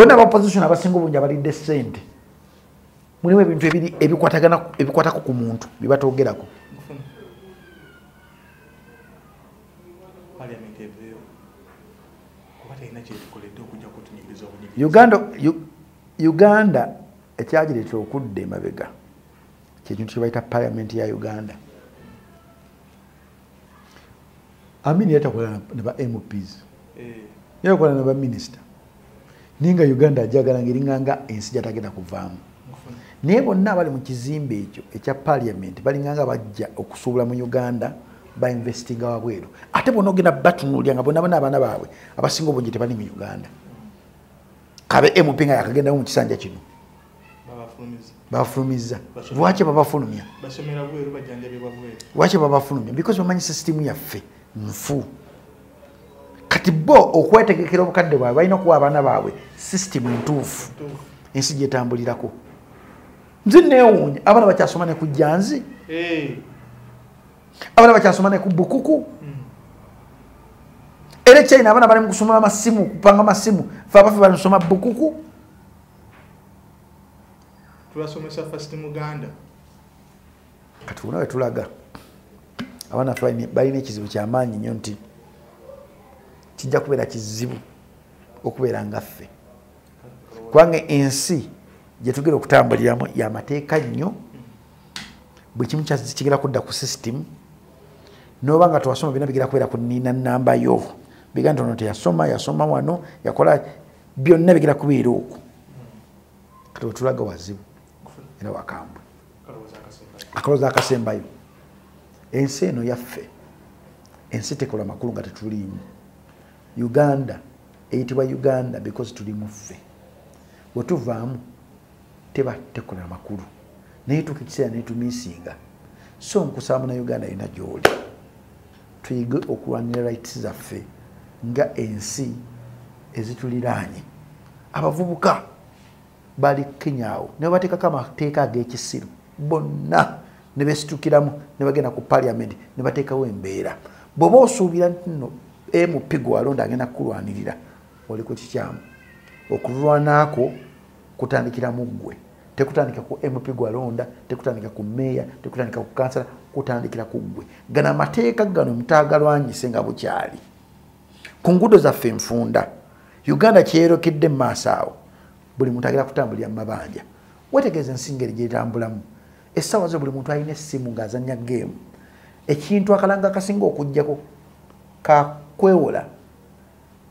bona aba opposition abasinga obungi abalidde sente mulimu ebintu ebiri ebikwatagana ebikwatako ku muntu byebatogerako uganda uganda ekyagireeta okudda emabega kyekintu kyebaita parliament ya uganda amini yatakola naba mps eh. yakola naba minisita naye nga uganda ajagala nga eringanga ensi gyatagenda kuvaamu naye bonna abali mu kizimbe ekyo ekya paliament balinganga bajja okusuubula mu uganda bainvestinga wabweru ate bona ogenda batunulya nga bonabona abaana baabwe abasinga obungi tebali mu uganda kabe mp nga yakagendamu mu kisanja kino bafulumizza lwaki babafulumya lwaki babafulumya because bamanyi sisitimu yaffe nfu kati bo okwetegekera obukadde bwabwe balina okuwa abaana baabwe sisitimu entuufu ensi gyetambulirako nzi newuunya abaana bakyasoma ne ku janzi eh. abaana bakyasoma ne ku bukuku hmm. era ekyayina abaana bali mu kusoma amasimu kupanga amasimu fe abafe bali musoma bukuku tubasomesa first muganda kati bona wetulaga abaana fe balina ekizibu kyamaanyi nnyo nti kijja kubeera kizibu okubeera nga ffe kubanga ensi gyetugera okutambuliramu yamateeka nnyo buli kimu kigera kudda ku system noba nga twasoma byona bigera kubeera ku nina nambayo biganda ono teyasoma yasoma wano yakola byonna bigera kubeera okwo kati wetulaga wazibu era wakambwe akalooza akasembayo ensi eno yaffe ensi tekola makulu nga tetuliimu uganda eyitibwa uganda because tuli muffe wetuvaamu teba tekola makulu naye tuka ekiseera netumisinga so nkusaba muna uganda yona gyoli tuyige okulwanira rights zaffe nga ensi ezituliraanye abavubuka bali kenya awo ne babateekako amateeka ag'ekisiru bonna ne besitukiramu ne bagenda ku parliament ne bateekawo embeera bw'oba osuubira nti no mp gwewalonda agenda kukulwanirira oli ku kikyamu okulwanako kutandikira mu ggwe tekutandika ku mp gwalonda tekutandika ku meeya tekutandika ku kansala kutandikira ku ggwe gano amateeka gano mutaagalwanyise nga bukyali ku ngudo zaffe enfunda uganda kyeyokedde mumaaso awo buli muntu agera kutambulira mumabanja wetegeeza ensi ngeri gyetambulamu essaawa zo buli muntu alina essimu ngaazanya geemu ekintu akalanga akasinga okujjako kakwewola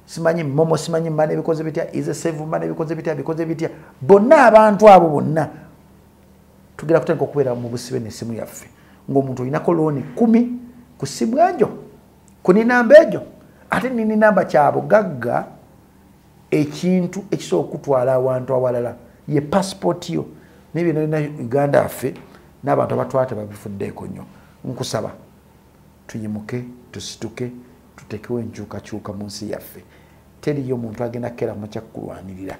simanyi momo simanyi mana ebikoze bitya ize save mana ebikoze bitya bikoze bitya bonna abantu abo bonna tugera kutandika okubeera mu busibe nesimu yaffe ngaomuntu olinako looni kumi ku simu ejo kuninamba ejo ate nininamba kyabugagga ekintu ekisobola okutwala awantu awalala ye passport yo naye byenalina uganda affe n'abantu abatwala tebabifuddeeko nnyo nkusaba tuyimuke tusituke tutekewo enkyukakyuka mu nsi yaffe teriyo omuntu agenda kukera mukyakkulwanirira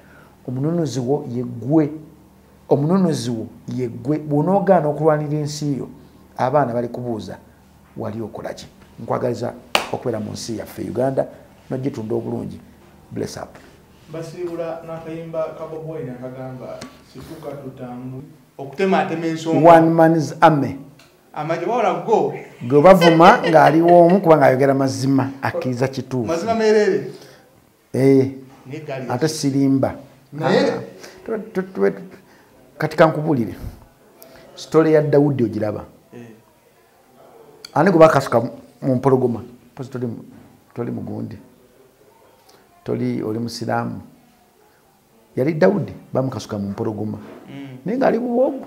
omununuzi wo yegwe omununuzi wo yegwe bwonoogaana okulwanira ensi yo abaana bali kubuuza wali okolaki nkwagaliza okubeera mu nsi yaffe uganda nogitunda obulungi bless up basiibula nakayimba kaboboyi nakagamba situka tutambu okutemaatema ensonga one man's army amanya wala go gwe bavuma ngali womu kuba ngayogera mazima akiza kitu mazima merere eh ni gali ate silimba naye ah. katika nkubulire story ya Daudi ojiraba eh ani kuba kasuka mu mpologoma pozi toli toli mugundi toli oli musilamu yali Daudi bamukasuka mu mpologoma mm. ninga ali buwogu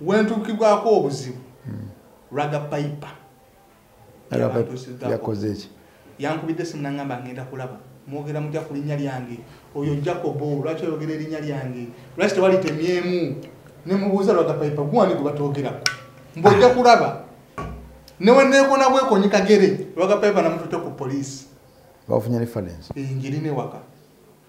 wentukibwako obuzibu hmm. raga paipa yakozeeki yankubidde simunangamba ngenda kulaba mwogera mutya ku linnya lyange oyo jacobo lwaki oyogera erinnya lyange lwaki tewalitemyemu nemubuuza raga paipa guwani gwe batwogerako mbwojja kulaba neweneekona bwekonyi kagere raga paipa namutute ku poliisi bafunye reference enjiri newaka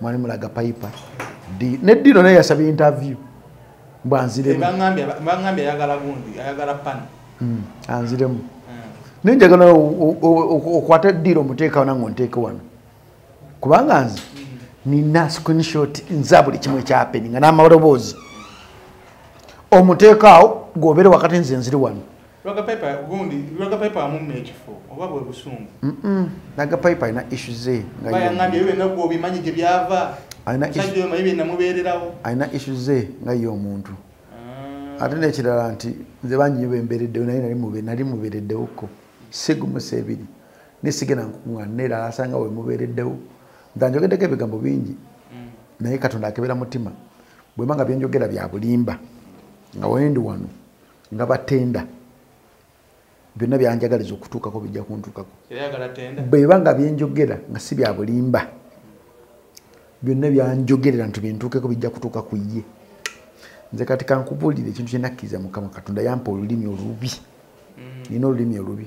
mwali mulaga payipa ne dino naye yasaba interview mbu anziremuangambye ayagala gundi ayagala pani hmm, anziremu hmm. naye njagala okwata diro omuteekawo nange onteeke wano kubanga nze hmm. nina screenshot nza buli kimu ekyapeni nga n'amaloboozi omuteekaawo gobere wakati nze nziri wano nagapaipa alina isu ze alina isu ze nga ye omuntu ah. ate nekirala nti nze banyiyo bembereddewo naye nali mubereddewoko sigumusa ebiri nesigenda nkukuŋana neerala asanga wemubereddewo ntanjogeddeko ebigambo bingi mm. naye katonda akebera mutima bwemba nga byenjogera byabulimba nga wendi wano nga batenda byonna byanjagaliza okutuukako bijja kuntuukako bweba nga byenjogera nga si bya bulimba byonna byanjogerera nti bintuukeko bijja kutuuka ku ye nze kati kankubuulire ekintu kyenakkiriza mukama katonda yampa olulimi olubi mm. nina olulimi olubi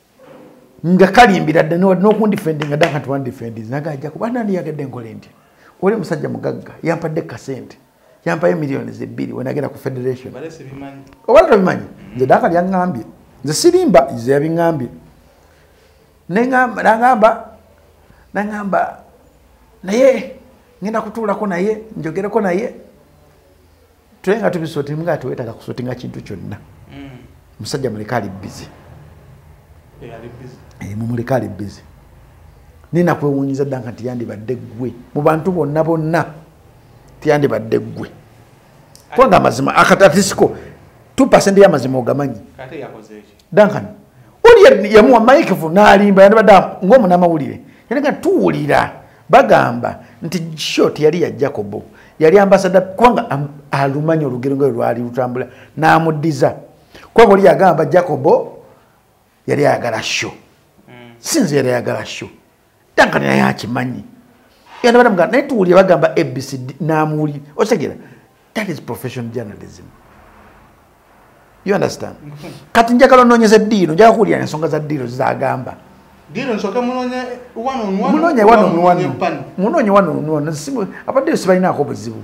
nga kalimbira dda nokundifendinga dda kanti wandifendi naga ajja kuba nani yagadde nkole nti oli musajja mugagga yampadde kasente yampayo miliyoni zebbiri wenagenda ku federation oba tobimanyi nze daka lyaŋambye nze sirimba nze yabiŋambye nangamba nangamba naye ngenda kutuulako naye njogereko naye tule nga tubisotinga nga tewetaga kusotinga kintu kyonna mm. musajja muleka ali bizi eh, mumuleka ali bizi naye nakwewunyiza ddanka nti yandibadde ggwe mu bantu bonna bonna tiyandibadde ggwe kubanga amazima akatatisi ko 2 pasenti y'amazima ogamanyi Duncan oli yamuwa Mike vu nalimba yandibadde ng'omunamawulire yali nga tuwulira bagamba nti shot yali ya Jacob yali ambasada kubanga alumanyi olugero nga lwali lutambula n'amuddiza kubanga oli yagamba Jacob yali ayagala sho hmm. sinze yali ayagala sho dankani naye akimanyi yanda banamugamba naye tuwulire bagamba abcd namuwulire okitegera that is professional journalism you understand kati njagala onoonyeza eddiiro njaga kuwulira ensonga za ddiiro zagamba munoonye wano onuwano abaddeyo sibalinaako buzibu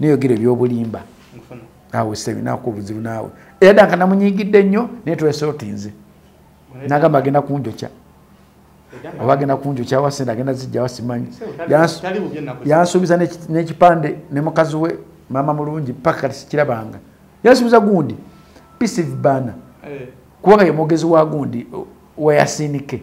neyogera ebyobulimba awe sebinaku obuzibu naawe era danka namunyigidde nnyo naye twesotinze nagamba agenda kunjokya oba agenda kunjokya wasente agenda zijja wasimanyi yansuubiza n'ekipande ne mukazi we maama mulungi paka kati sikirabanga yansuubiza gundi pisive baana eh. kubanga ye mwogezi wa gundi wayasiinike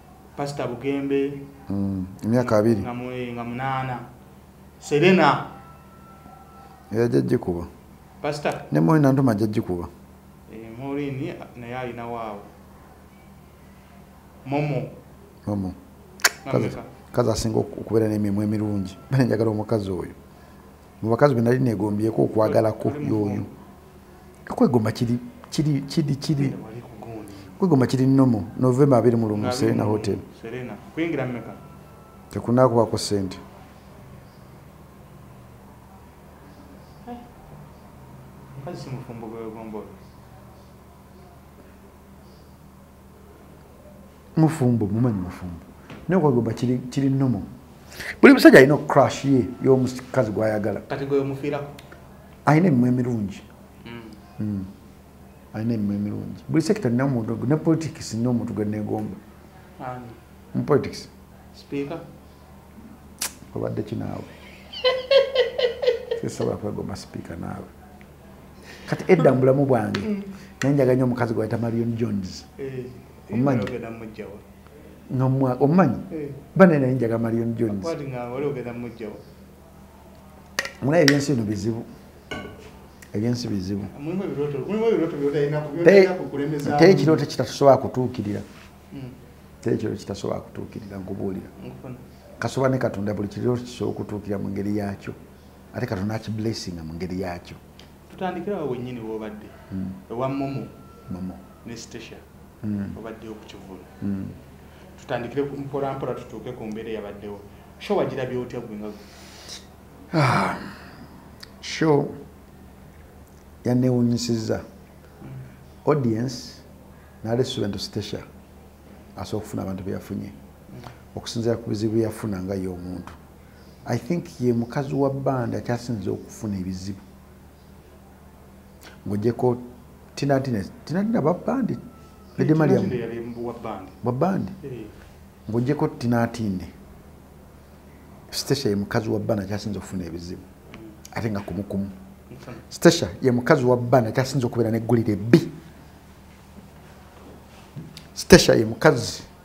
pasita bugembe mm, emyaka abiri nga munaana serena yajajjikuba pasita ne morin antuma ajajjikuba eh, morin naye alina waawo momo momo kazi asinga okubeera n'emimwa emirungi bale njagala omukazi oyo mu bakazi be nali negombyeko okwagalako yoyo okwegomba kiri kiri kiri kiri kwegomba kiri nomo novemba abiri mu lumu serena hotel tekunakuwako sente eh, mufumbo mumanyi mufumbo naye kwagomba kiri kiri nomo buli musajja alina crash ye y'omukazi gwayagala kati gwe omufiirako alina emimwa emirungi mm. Mm. alina emimwa emirungi buli sekita nina omuntu ne politics nina omuntu gwe negomba mu politics speaker obadde kinaawe sisobola kwegomba speaker naawe kati edda mu bulamu bwange mm. naye njaga nyo omukazi gwe bayita marion jones eh, omumanyi omumanyi eh. banaye naye njaga marion jones mulaye ebyensi bino bizibu ebyensi bizibu teri kirooto kitatusobola kutuukirira mm. teri kirooto kitasobola kutuukirira nkubuulira kasobola ne katonda buli kirooto kisobola okutuukirira mu ngeri yaakyo ate katonda akiblessinga mu ngeri yakyo tutandikirawo wenyini wobadde hmm. ewa momo momo ne stasia hmm. obadde okukivula hmm. tutandikire mpolampola tutuuke ku mbeera eyabaddewo sho wagirabye otya gwe nga ah, sho yanewunyisiza audience nali student stasia asobola okufuna abantu beyafunye okusinzira ku bizibu byeyafuna nga ye omuntu i think ye mukazi wa banda kyasinze okufuna ebizibu ngojeko tinatinatinatina babandi edemaliamubabandi eh. ngojeko tinatinde stasha ye mukazi wa banda kyasinze okufuna ebizibu hmm. ate nga kumukumu stasha ye mukazi wa banda kyasinze okubeera neggulire bbi stasha ye mukazi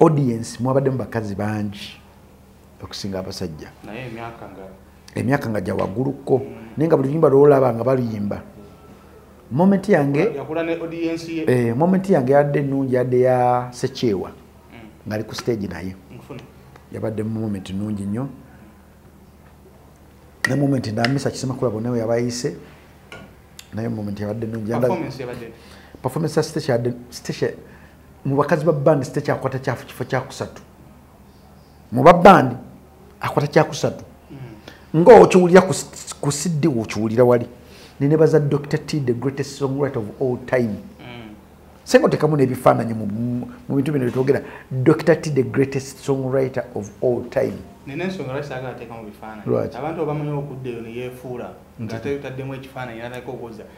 audience mwabaddemu bakazi bangi okusinga abasajja emyaka nga gyawagguluko mm. naye nga buli luyimba lwolaba nga baluyimba moment yange eh, moment yange yadde ennungi yadde ya sekyewa mm. ngaali ku stage naye yabadde moment nnungi nnyo ne moment ndamisa kisema kulabo nawe yabayise naye moment yabadde nnungi performance ya stage yadde stage mu bakazi ba bandi sitekyakwata kyafu kifo kyakusatu mu babandi akwata kyakusatu mm. nga okiwulira ku siddi okiwulira wali nenebaza dr t the greatest songwriter of all time mm. senga otekamu nebifaananyi mu bintu bino byetwogera dr t the greatest songwriter of all time nina ensonga lwaki saagala teekamu bifaananyi abantu obamanyi okudda eyo neyefuula nga teyutaddemu ekifaananyi natandika okuwoza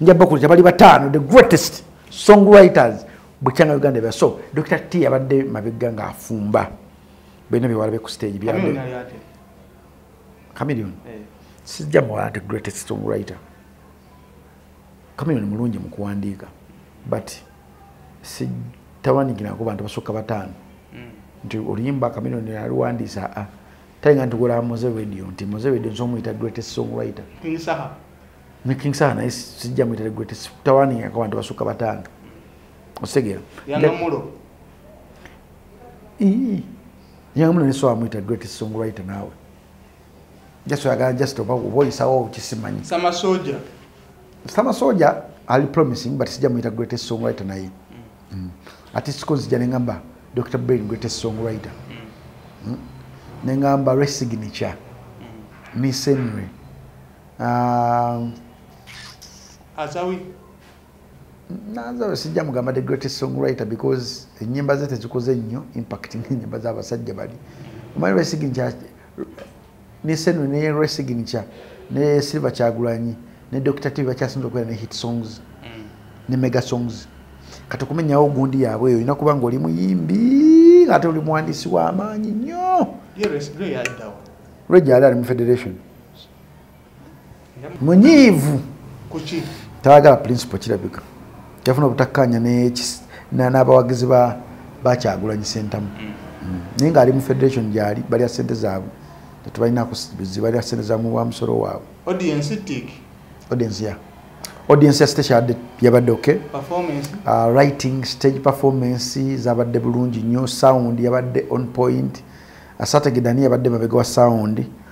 njabakulira bali bataano the greatest song writers bukyanga uganda ebya so dr t abadde mabegga nga afumba bena byewalabe ku stage byambe camilion eh. sijja muwala the greatest song writer camilion mulungi mu kuwandiika but sitawandiikirako bantu basukka bataano hmm. nti oluyimba camilion aliwandiisa a ah, talinga nti gulamuze radio nti muze radio nzomuyita greatest song writer ne king saha naye sijja mwitere gwe tawaniingako abantu basuka batano osegeera yangamulo ne sowa mwita great song writer naawe just oyagala just oba oba oyisawo okisimanyi sama soja sama soja ali promising but sijja muyita greatest song writer naye mm. mm. ati siko nzija nengamba dr brain greatest song writer mm. mm. nengamba resignature mm. miss henry um, azawi nazawe sijja mugamba the greatest song writer because enyimba ze tezikoze nnyo impact ngenyimba zabasajja bali omanyi lwesiginkya nesenu ne lwesiginkya ne silver kyagulanyi ne dr tv bakyasinza okubeera ne hit songs mm. ne mega songs kati okumenyawo ogundi yaabwe eyo olina kuba nga oli muyimbi ate oli muwandiisi w'amaanyi nnyo lwegyali ali mu federation munyiivu tayagala principal kirabika yafuna obutakkaanya n'abawagizi bakyagulanyi sentamu mm. mm. naye ng'ali mu federation gyali balya sente zaabwe tetubalinakuzibalya sente zamu wa musolo waabwe audience ya stage yabadde yabadde okay uh, writing stage performance zabadde bulungi nnyo sound yabadde on point asategedani yabadde mabega wa sound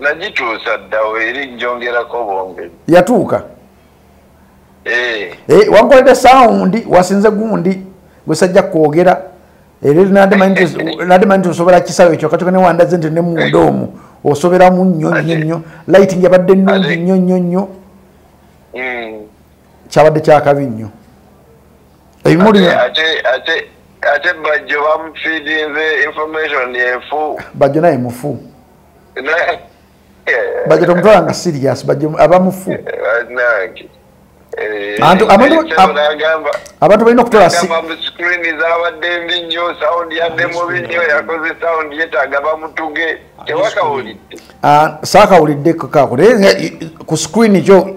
nagituusa ddawo eri njongerako bongeri yatuuka eh. eh, wankoledde sawundi wasinze gundi gwesajja kwogera era nadimanyi nti osobola kisawo ekyo katoka newandaze nti nemunda omu osoberamu nnyo nnyo nnyo lighting yabadde nnungi nnyo nnyo nnyo hmm. kyabadde kyakabi nnyo ebimuli ate ate ate bajjo bamufidinze information yefu bajjo naye mufu bajjo tomutwala nga serious bajjo aba mufu eh, eh, abantu balina okutolasaakawulidde ah, kakako naye ku screen kyo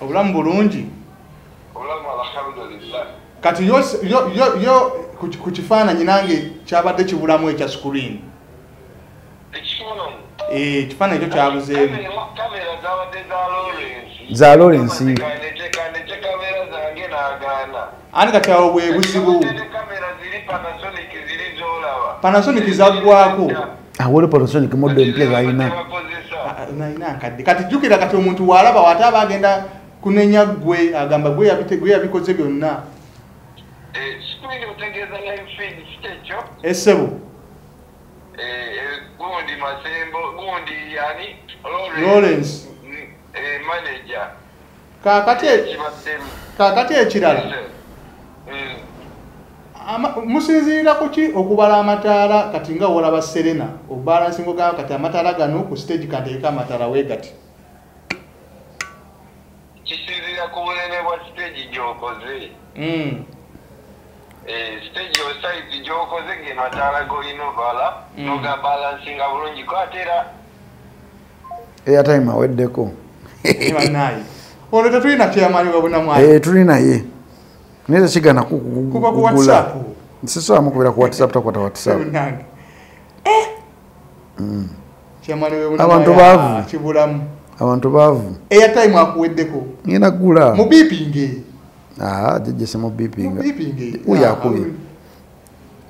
obulamu bulungi kati yo ku kifaananyi nange kyabadde kibulamu ekya screen eh, ekifaananyi kyo kyabuzeemu za lawrence ani kati awo bwebuzibu panasonic zagwako awole polosonic moddo empya zalina nalina nkadde kati jjukira kati omuntu waalaba waata aba agenda kunenya ggwe agamba gwe yabikoze byonna esebo lawrence manager kakati kakati ekirala eh. musinziira kuki okubala amataala kati nga wolaba serena obalansingo ga kati amataala gano ku stage kanteeka amataala wegati kisinziira ku bunene bwa stage gyokoze hmm. eh, stage osaizi gyokoze gemataala golina obala hmm. nogabalansinga bulungi ko atera airtime aweddeko eh, tuli naye naye tekigana kugula sisobamu kubera ku whatsapp takwata whatsapp eh! mm. abantu baavu ah, abantu baavu airtime akuweddeko ngenda kugula mubipinge ah, jejese mubipinga uyo akubye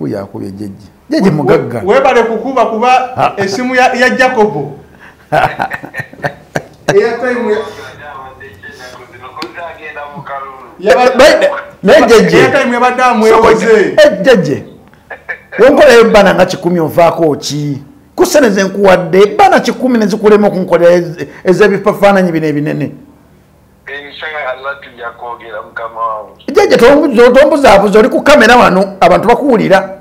yakubye jeje jeje mugagga webale kukuba kuba esimu ya, ya jacobo jeje wenkolayo bana nga kikumi ovaako ki kusene zenkuwadde bana kikumi nezikulema okunkolera ezebifafaananyi bino ebinene jajja tombuzabuza oli ku kamera wano abantu bakuwulira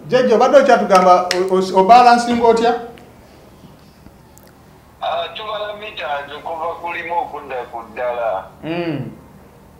jajja obadde okyatugamba obalansinga otya ah, tubala mita nze kuva kulimu okudda ku ddala hmm.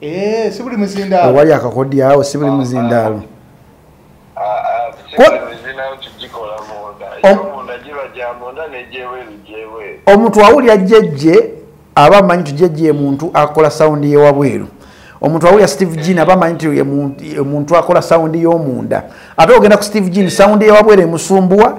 Eh, si buli muzindaalo owali akakodyo awo si buli ah, muzindaalo ah, ah, omuntu awulira jjejje aba amanyi nti jjejje muntu akola sawundi yewabweru omuntu awulira steve jean aba amanyi nti omuntu akola sawundi y'omunda ate ogenda ku steve jean sawundi yewabweru emusumbuwa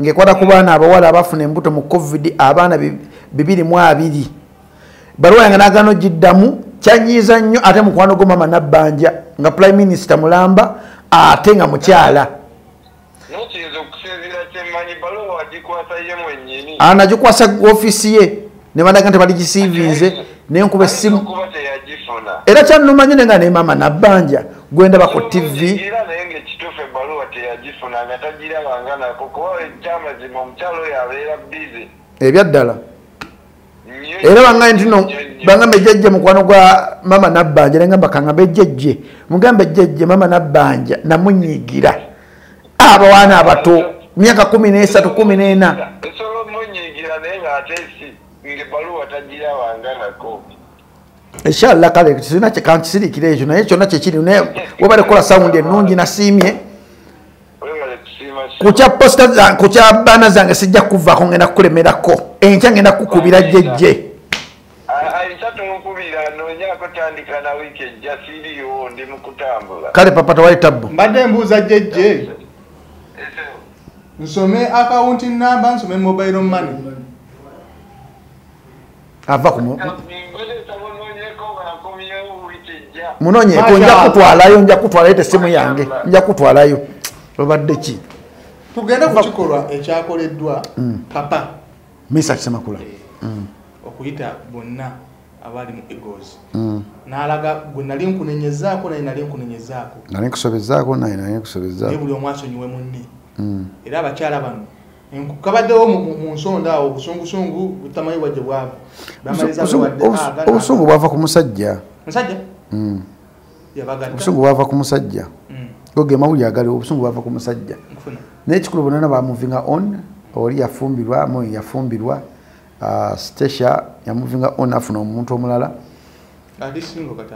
ngaekwata ku baana abawala abafuna embuto mu covid abaana bibiri mu abiri baluwa yange nagana ogiddamu kyanyiiza nnyo ate mukwano gwo mama nabbanja nga prime minister mulamba ate nga mukyala anagikwasa ofiisi ye ne balaga nti baligisiivinze ne nkuba essimu era kyanuma nyine nga ne maama nabbanja gwe ndaba ku tivi ebyaddala era bangaye ntino bangamba ejjajja mukwano gwa maama nabbanja nengamba kangamba ejjajje mugamba ejjajje maama nabbanja namunyigira abawaana abato myaka kumi nesatu kumi nena esobola omunyigira naye nga ate si ngebaluwa tagira wanganako inshallah kale sirina kyekantisirikira ekyo naye kyonna kyekiri naye webale kukola sawundi ennungi nasiimye kukya posita zange kukya baana zange sijja kuvaako ngenda kukulemerako enkya ngenda kukubira jejje kale papa tewali tabbu mbadde mbuuza jejje nsome akawunti namba nsome mobile money ava kumu munonyeko nja kutwalayo nja kutwalayo tesimu yange nja kutwalayo obadde ki tugende ku kikolwa ekyakoleddwa mm. papa misa kisemakula eh, mm. okuyita bonna abaali mu egos mm. nalaga gwe nali nkunenyezaako naye nali nkunenyezaako nali nkusobezaako naye nali nkusobezaako buli omu asonyiwe munne mm. era abakyala bano kabaddewo mu nsonda awo obusungusungu butamanyi bwajje bwavu obusungu bwava ku musajja musajja obusungu bwava ku musajja mm. goge mawulire agaliwo obusungu bwava ku musajja naye kikulu bonana bamuvinga on oli yafumbirwa mu yafumbirwa uh, stacia yamuvinga on afuna omuntu omulala ali singo kati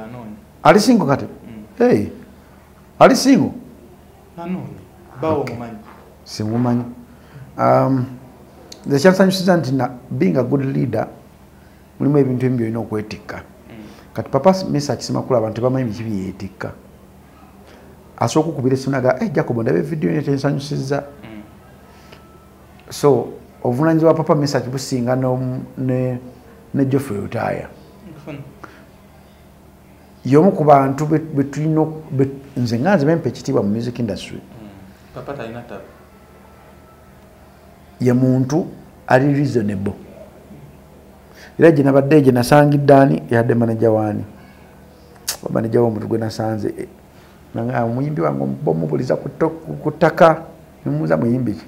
ali singo kati mm. ali singo simumanyi um, nze kyansanyusiza nti being a good leader mulimu ebintu ebimu byolina okwetikka mm. kati papa mesa akisemakula abantu tebamanyi biki byeyetikka asooka okubira esunaga e eh, jacobo ndaba evidiyo nyo tensanyusiza mm. so obuvunanyiza bwa papa mesa kibusinga ne joffrey lutaaya yomu ku bantu betulina nze nga nze bempa ekitiibwa mu music industry mm. ye muntu ali reasonable era gye nabadde egye nasangidde ani yadde manaja waani manaja womuntu gwe nasanze eh, ah, omuyimbi wange omubuliza ku ttaka nemuuza muyimbi ki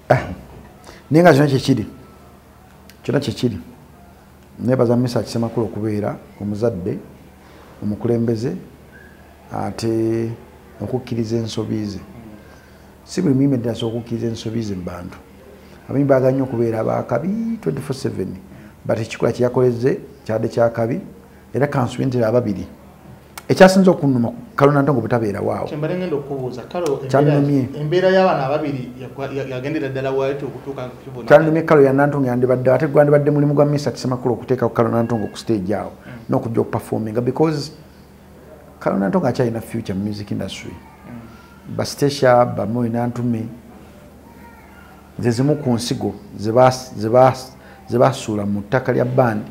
ah, naye nga kyona kyekiri kyona kyekiri nebaza misa kisemakula okubeera omuzadde omukulembeze ate okukkiriza ensobi ze si buli muyimbi nti asobola okukkiriza ensobi ze mubantu abayimbi baagala nnyo okubeera abakabi 247 but ekikola kyeyakoleze kyade kyakabi era kansubi ntera ababiri ekyasinza okunuma kalona ntongo butabeera waawo kyembale ngenda okubuuza kalo kyanumye embeera y'abaana ababiri yagendera ddala wayoti okutuuka kukibona kyanumye kalo ya nantongo yandibadde ate gwandibadde mulimu gwa misa kisemakulu okuteekako kalo nantongo ku stage awo mm. n'okujja okuperforminga because kalo nantongo akyalina future mu music industry mm. bastecia bamoyi nantume zezimu ku nsigo zebasuula mu ttaka lya bandi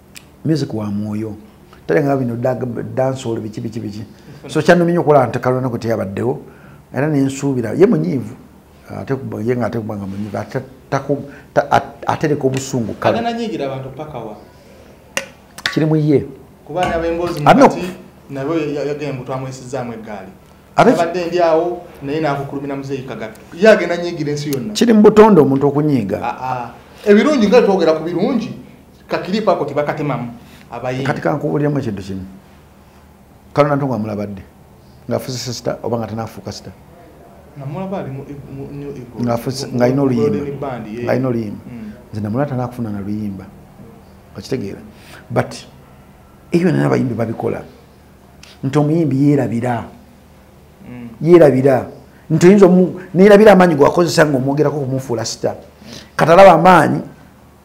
music wa mwoyo talengaba bino dansol biki biki biki so kyanumye nyo okulaba ntekalona kwe teyabaddewo era nensuubira ye munyiivu ate ye nga ate kuba nga munyiivu atereka obusungu kiri mu ye kiri mu butonde omuntu okunyiiga ah, ah. ebirungi nga twogera ku birungi kakiripo ako tebakatemamu abayimbi kati kankubuliramu ekintu kimu kalona ntongo amulabadde ngaafuze sisita oba nga tanafuuka sita ngaalina oluyimba ngaalina oluyimba mm. nze namula tanakufuna na luyimba okitegeera but ebyo nana abayimbi babikola nti omuyimbi yerabira mm. yerabira nti oyinza nerabira amaanyi gwakozesa nga omwogerako kumufuula sita katalaba amaanyi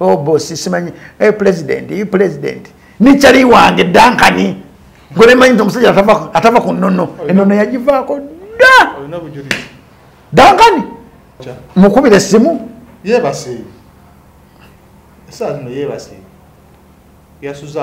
oh boss simanyi hey eh, president you president ni chali wange dankani ngole manyi to musajja atava atava ku nonno enono yajivako da olina bujuri dankani mukubire simu ye basi sasa no ye basi yasuza